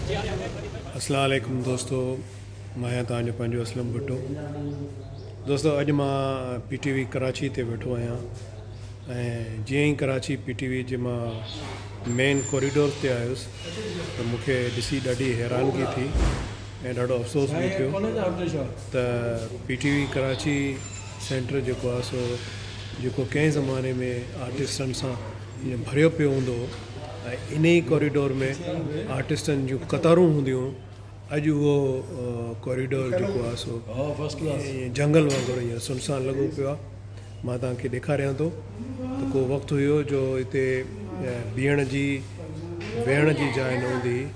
اسلام عليڪم دوستو مان آهيان توهان جو پنهنجو اسلم ڀٽو دوستو اڄ مان پي ٽي وي ڪراچي تي ويٺو آهيان ۽ جيئن ئي ڪراچي پي ٽي وي جي مان مين ڪوريڊور تي آيس ته مون کي ڏسي ڏاڍي حيرانگي ٿي ۽ ڏاڍو افسوس به ٿيو ته P T V Karachi centre جيڪو آهي سو جيڪو ڪنهن زماني ۾ آرٽسٽن سان ائين ڀريو پيو هوندو هو ۽ انهي ئي ڪوريڊور ۾ آرٽسٽن جون قطارون هونديون هيون. اڄ اهو ڪوريڊور جيڪو آهي سو ائين جهنگل وانگر هينئر سنسان لڳو پيو آهي. مان توهان کي ڏيکاريان ٿو ته ڪو وقت هيو جو هتي بيهڻ جي ويهڻ جي جاء نه هوندي هئي.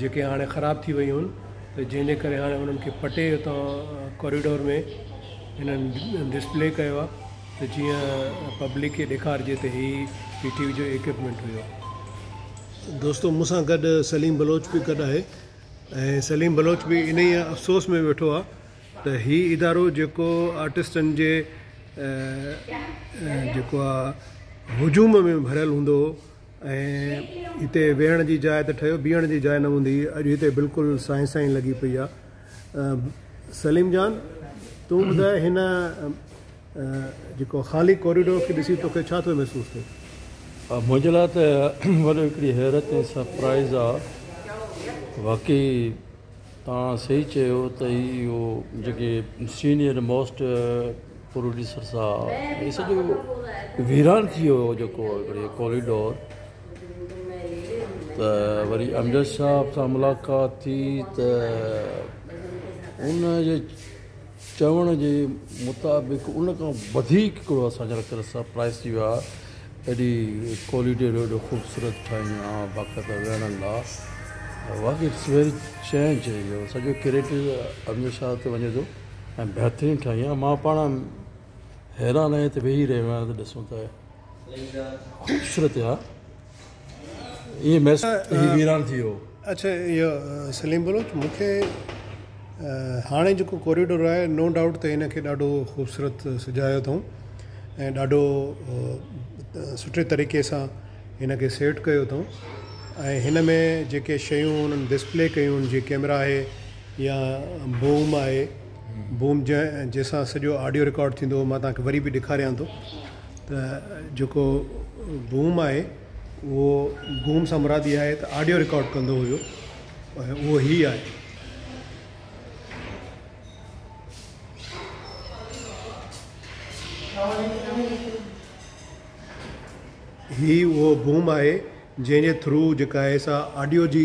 جيڪي هاڻي خراب ٿي ويون هن ته جنهن جي ڪري هاڻي انهن کي پٽي اتان ڪوريڊور ۾ هنن ڊسپلي ڪيو آهي ته جيئن پبلڪ کي ڏيکارجي ته هي پي ٽي وي جو اڪوپمينٽ هيو. دوستو مون سان گڏ سليم بلوچ به گڏ آهي ۽ سليم بلوچ به انهي افسوس ۾ ويٺو آهي ته هي ادارو جيڪو آرٽسٽن جي جيڪو آهي هجوم ۾ ڀريل هوندو هو ۽ هتي ويهڻ جي جاء ته ٺهيو بيهڻ جي جاء نه هوندي هئي اڄ هتي بلڪل سائين سائين لڳي پئي آ سليم جان تون ٻڌاء هن جيڪو خالي ڪوريڊور کي ڏسي توکي ڇا ٿو محسوس ٿئي؟ منهنجي لاء ته وڏو هڪڙي حيرت ۽ سرپرائز آ واقعي توهان صحيح چيو ته هي اهو جيڪي سينئر موسٽ پروڊيوسر صاحب هي سڄو ويران ٿي ويو هو جيڪو هڪڙي ڪوريڊور ته وري امجد صاحب سان ملاقات ٿي ته ان جي چوڻ جي مطابق ان کان وڌيڪ ھڪڙو اسان جا رکيل سرپرائيز ٿي ويو آھي ايڏي ڪوليڊيرو ايڏو خوبصورت ٺاھين آ باقاعده ويھڻ لا واقعي اٽس ويري چينج يور سڄو ڪريٽو امير شاھ تي وڃي ٿو ۽ بھترين ٺاھين آ مان پاڻ حيران آھيان ھتي ويھي رھيو آھيان ته ڏسون ته خوبصورت آ. ايئن محسوس ٿيو ته هي ويران ٿي ويو. اڇا ايو سليم بلوچ مونکي هاڻي جيڪو ڪوريڊور آهي نو ڊائوٽ ته ان کي ڏاڍو خوبصورت سجايو اٿئون ۽ ڏاڍو سٺي طريقي سان هن کي سيٽ ڪيو اٿئون ۽ هن ۾ جيڪي شيون انهن ڊسپلي ڪيون آهن جيئن ڪيمرا آهي يا بوم آهي بوم جنهن جنهن سان سڄو آڊيو رڪارڊ ٿيندو هو مان توهان کي وري به ڏيکاريان ٿو ته جيڪو بوم آهي اهو بوم سان مراد اها آهي ته آڊيو رڪارڊ ڪندو هيو اهو هي آهي هي اهو بوم آهي جنهن جي ٿرو جيڪا آهي سا آڊيو جي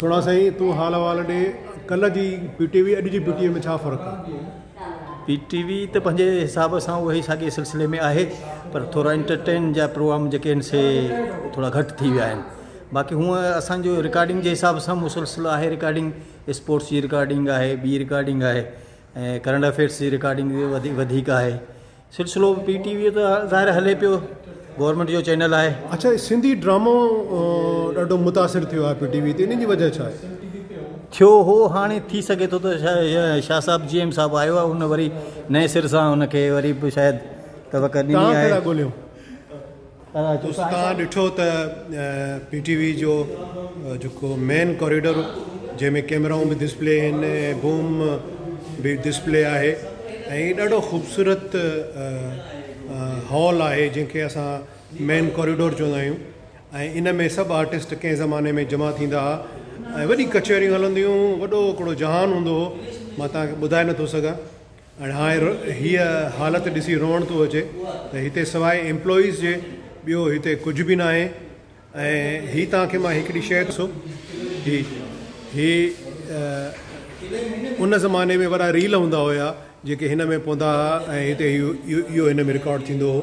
سھڻا سائين تون حال احوال ڏي ڪلھ جي پي ٽي وي اڄ جي پي ٽي وي ۾ ڇا فرق آ. پي ٽي وي ته پنهنجي حساب سان اهي ساڳي سلسلي ۾ آهي پر ٿورا انٽرٽين جا پروگرام جيڪي آهن سي ٿورا گهٽ ٿي ويا آهن باقي هونء اسانجو رڪارڊنگ جي حساب سان مسلسل آهي رڪارڊنگ اسپورٽس جي رڪارڊنگ آهي ٻي رڪارڊنگ آهي ۽ ڪرنٽ افيئرس جي رڪارڊنگ وڌيڪ آهي سلسلو پي ٽي وي تي ظاهر هلي پيو گورنمنٽ جو چينل آهي. اڇا سنڌي ڊرامو ڏاڍو متاثر ٿيو آهي پي ٽي وي تي ان جي وجه ڇا آهي؟ ٿيو هو هاڻي ٿي سگهي ٿو ته شاهه صاحب جي ايم صاحب آيو آهي ان وري نئين سر سان ان کي وري به شايد توقع ڏني آهي. دوستو توهان ڏٺو ته پي ٽي وي جو جيڪو مين ڪوريڊور جنهن ۾ ڪيمرائون به ڊسپلي آهن ۽ بوم به ڊسپلي آهي ۽ ڏاڍو خوبصورت هال آهي جنهن کي اسان مين ڪوريڊور چوندا آهيون ۽ ان ۾ سڀ آرٽسٽ ڪنهن زماني ۾ جمع ٿيندا هئا ۽ وڏي ڪچهريون هلنديون هيون وڏو هڪڙو جهان هوندو هو مان توهان کي ٻڌائي نٿو سگهان ۽ هاڻي هيء حالت ڏسي روئڻ ٿو اچي ته هتي سواء ايمپلائيز جي ٻيو هتي ڪجهه به ناهي ۽ هي توهان کي مان هڪڙي شيء ڏسو هي هي ان زماني ۾ وڏا ريل هوندا هيا جيڪي هن ۾ پوندا هئا ۽ هتي اهو اهو هن ۾ رڪارڊ ٿيندو هو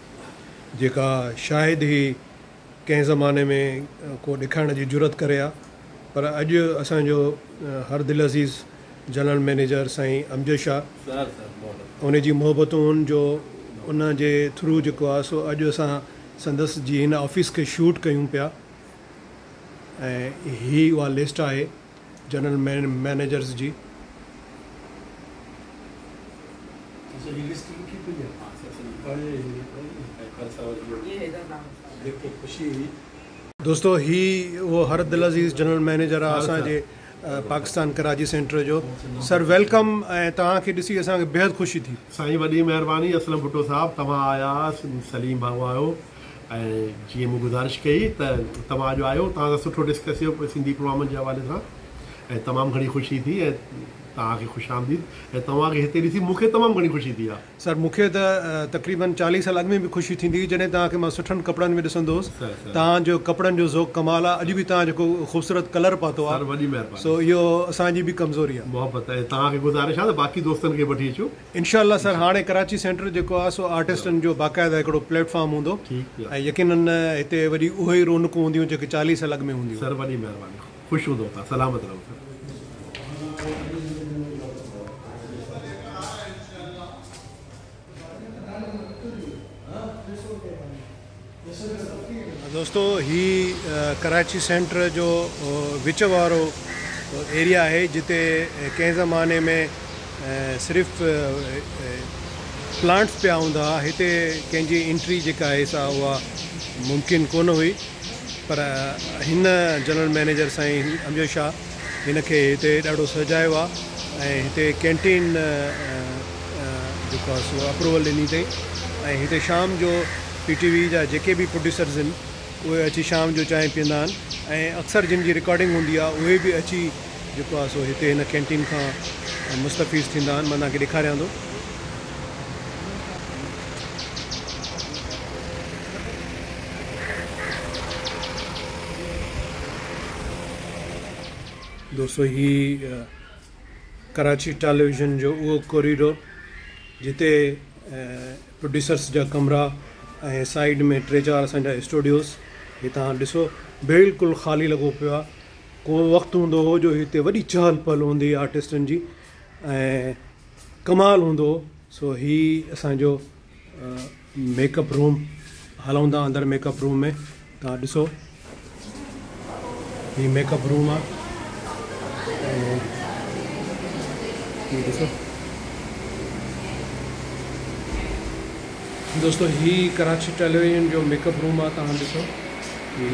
جيڪا شايد ئي ڪنهن زماني ۾ ڪو ڏيکارڻ جي جرئت ڪري ها پر اڄ اسان جو هر دلعزيز جنرل مئنيجر سائين امجد شاهه ان جي محبتون جو ان جي ٿرو جيڪو آهي سو اڄ اسان سندس جي هن آفيس کي شوٽ ڪيون پيا ۽ هي اها لسٽ آهي جنرل مئنيجرز جي. دوستو هي اهو هر دلعزيز جنرل مئنيجر آ اسان جي پاڪستان ڪراچي سينٽر جو سر ويلڪم ۽ توهان کي ڏسي اسان کي بيحد خوشي ٿي. سائين وڏي مهرباني اسلم ڀٽو صاحب توهان آياس سليم ڀائو آيو. ۽ جيئن مون گذارش ڪئي ته توهان اڄ آيو توهان سان سٺو ڊسڪس ٿيو سنڌي پروامن جي حوالي سان ۽ تمام گهڻي خوشي ٿي ۽ توهان کي خوش آمديد ۽ توهان کي هتي ڏسي مون کي تمام گهڻي خوشي ٿي آ. سر مون کي ته تقريبن چاليهه سال اڳ ۾ به خوشي ٿيندي هئي جڏهن توهان کي مان سٺن ڪپڙن ۾ ڏسندو هوس سر سر توهان جو ڪپڙن جو ذوق ڪمال آ اڄ به توهان جيڪو خوبصورت ڪلر پاتو آ سر وڏي مهرباني سو اهو اسان جي به ڪمزوري آ. محبت ۽ توهان کي گذارش آ ته باقي دوستن کي به وٺي اچو. انشاء الله سر هاڻي ڪراچي سينٽر جيڪو آ سو آرٽسٽن جو باقاعده هڪڙو پليٽ فارم هوندو ۽ يقينن هتي وري اهي ئي رونقون هونديون جيڪي چاليهه سال اڳ ۾ هونديون هيون. سر وڏي مهرباني خوش هوندو ته سلامت رهو سر. دوستو هي ڪراچي سينٽر جو وچ وارو ايريا آهي جتي ڪنهن زماني ۾ صرف پلانٽس پيا هوندا هئا هتي ڪنهن جي انٽري جيڪا آهي سا اها ممڪن ڪونه هئي پر هن جنرل مئنيجر سائين امجد شاهه هن کي هتي ڏاڍو سهجايو آ ۽ هتي ڪينٽين جيڪو آ سو اپروول ڏني اٿئي ۽ هتي شام جو پي ٽي وي جا جيڪي به پروڊيوسرز هن اهي اچي شام جو چانهه پيئندا آهن ۽ اڪثر جن جي رڪارڊنگ هوندي آ اهي به اچي جيڪو آ سو هتي هن ڪينٽين کان مستفيض ٿيندا آهن مان توهان کي ڏيکاريان ٿو. دوستو هي ڪراچي ٽيليويزن جو اهو ڪوريڊور جتي پروڊيوسرس جا ڪمرا ۽ سائيڊ ۾ ٽي چار اسان جا اسٽوڊيوز هي تان ڏسو بلڪل خالي لڳو پيو آهي ڪو وقت هوندو هو جو هتي وڏي چهل پهل هوندي آرٽسٽن جي ۽ ڪمال هوندو هو سو هي اسان جو ميڪ اپ روم هلون ٿا اندر ميڪ اپ روم ۾ تان ڏسو هي ميڪ اپ روم آ دوستو هي ڪراچي ٽيليويزن جو ميڪ اپ روم آ تان ڏسو هي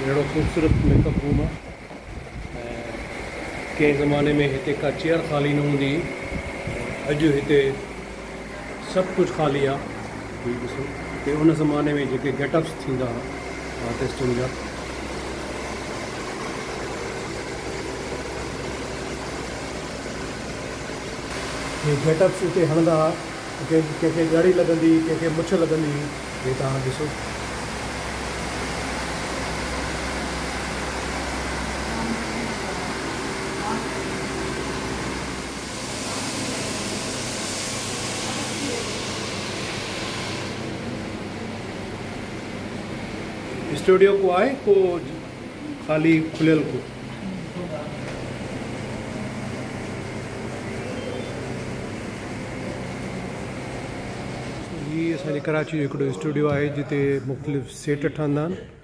اهڙو خوبصورت ميڪ اپ روم آ ڪنهن زماني ۾ هتي ڪا چيئر خالي نه هوندي اڄ هتي سڀ ڪجهه خالي آ هي ڏسو ته ان زماني ۾ جيڪي گيٽ اپس ٿيندا ها آرٽسٽن جا هي گيٽ اپس اتي هڻندا ها ڪنهن کي ڪنهن کي ڳڙهي لڳندي هئي ڪنهن کي مڇ لڳندي هئي هي توهان ڏسو اسٽوڊيو ڪو آهي ڪو خالي کليل ڪو هي اسان جي ڪراچي جو هڪڙو اسٽوڊيو آهي جتي مختلف سيٽ ٺهندا آهن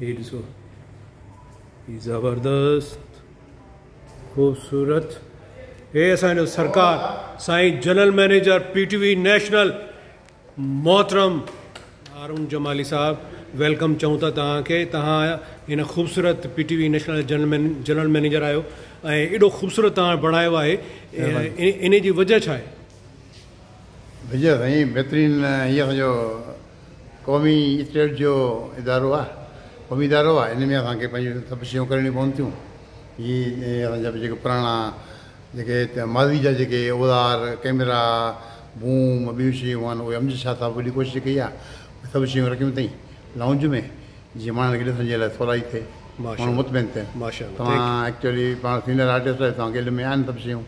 هي ڏسو هي زبردست خوبصورت هي اسان جو سرڪار سائين general manager P T V national محترم هارون جمالي صاحب ويلڪم چون ٿا تهان کي تهان هن خوبصورت P T V national general general manager آهيو ۽ ايڏو خوبصورت تهان بڻايو آهي ان جي وجه ڇا آهي وجه سائين بهترين هي اسان جو قومي اسٽيٽ جو ادارو آهي، قومي ادارو آهي، ان ۾ اسان کي پنهنجون سڀ شيون ڪرڻيون پون ٿيون، جي اسان جا جيڪي پراڻا جيڪي ماضي جا جيڪي اوزار، ڪئميرا، بوم، ٻيون شيون آهن اهي امجد شاهه صاحب وڏي ڪوشش ڪئي آهي، اهي سڀ شيون رکيون اٿئين لائونج ۾ جيئن ماڻهن کي ڏسڻ جي لاء سولائي ٿئي، ماڻهو مطمئن ٿين، توهان ايڪچولي پاڻ سينئر آرٽسٽ آهيو توهان کي علم ۾ آهن سڀ شيون.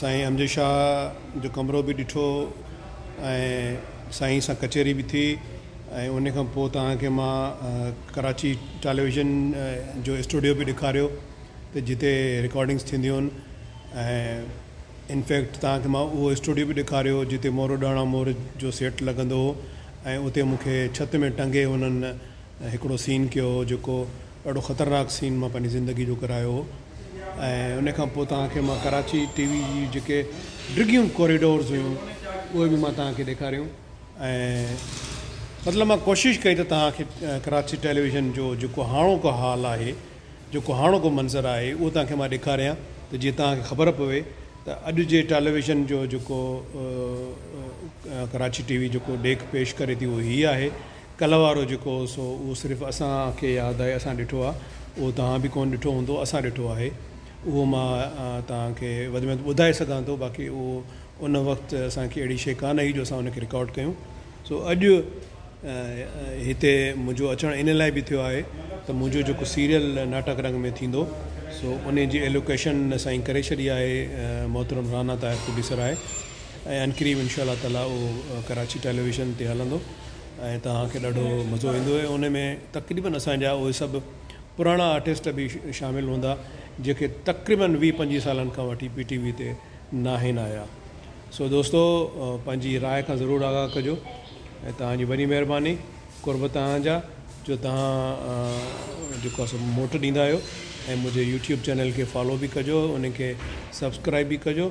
سائين امجد شاهه جو ڪمرو به ڏٺو ۽ سائين سان ڪچهري به ٿي ۽ ان کان پوء توهان کي مان ڪراچي ٽيليويزن جو اسٽوڊيو به ڏيکاريو ته جتي رڪارڊنگس ٿينديون هن ۽ ان فيڪٽ توهان کي مان اهو اسٽوڊيو به ڏيکاريو جتي مورڏاڻا مور جو سيٽ لڳندو هو ۽ اتي مون کي ڇت ۾ ٽنگي انهن هڪڙو سين ڪيو هو جيڪو ڏاڍو خطرناڪ سين مان پنهنجي زندگي جو ڪرايو هو ۽ ان کان پوء توهان کي مان ڪراچي ٽي وي جي جيڪي ڊگهيون ڪوريڊورز هيون اهي به مان توهان کي ڏيکاريون ۽ مطلب مان ڪوشش ڪئي ته توهان کي ڪراچي ٽيليويزن جو جيڪو هاڻوڪو حال آهي جيڪو هاڻوڪو منظر آهي اهو توهان کي مان ڏيکاريان ته جيئن توهان کي خبر پوي ته اڄ جي ٽيليويزن جو جيڪو ڪراچي ٽي وي جيڪو ڏيک پيش ڪري ٿي اهو هي آهي ڪلهه وارو جيڪو هو سو اهو صرف اسان کي ياد آهي اسان ڏٺو آهي اهو توهان به ڪونه ڏٺو هوندو اسان ڏٺو آهي اهو مان توهان کي وڌ ۾ وڌ ٻڌائي سگهان ٿو باقي اهو ان وقت اسان کي اهڙي شي ڪانه هئي جو اسان ان کي رڪارڊ ڪيون سو اڄ هتي منهنجو اچڻ ان لاء به ٿيو آهي ته منهنجو جيڪو سيريل ناٽڪ رنگ ۾ ٿيندو سو ان جي ايلوڪيشن سائين ڪري ڇڏي آهي محترم رانا طاهر پروڊيوسر آهي ۽ انقريب انشاء الله تعالٰي اهو ڪراچي ٽيليويزن تي هلندو ۽ توهان کي ڏاڍو مزو ايندو ۽ ان ۾ تقريبن اسان جا اهي سڀ پراڻا آرٽسٽ به شامل هوندا جيڪي تقريبن ويهه پنجويهه سالن کان وٺي پي ٽي وي تي ناهن آيا سو دوستو پنهنجي راء کان ضرور آگاهه ڪجو ۽ توهان جي وڏي مهرباني قرب توهان جا جو توهان جيڪو اسو موٽ ڏيندا آهيو ۽ منهنجي يوٽيوب چينل کي فالو به ڪجو ان کي سبسڪرائب به ڪجو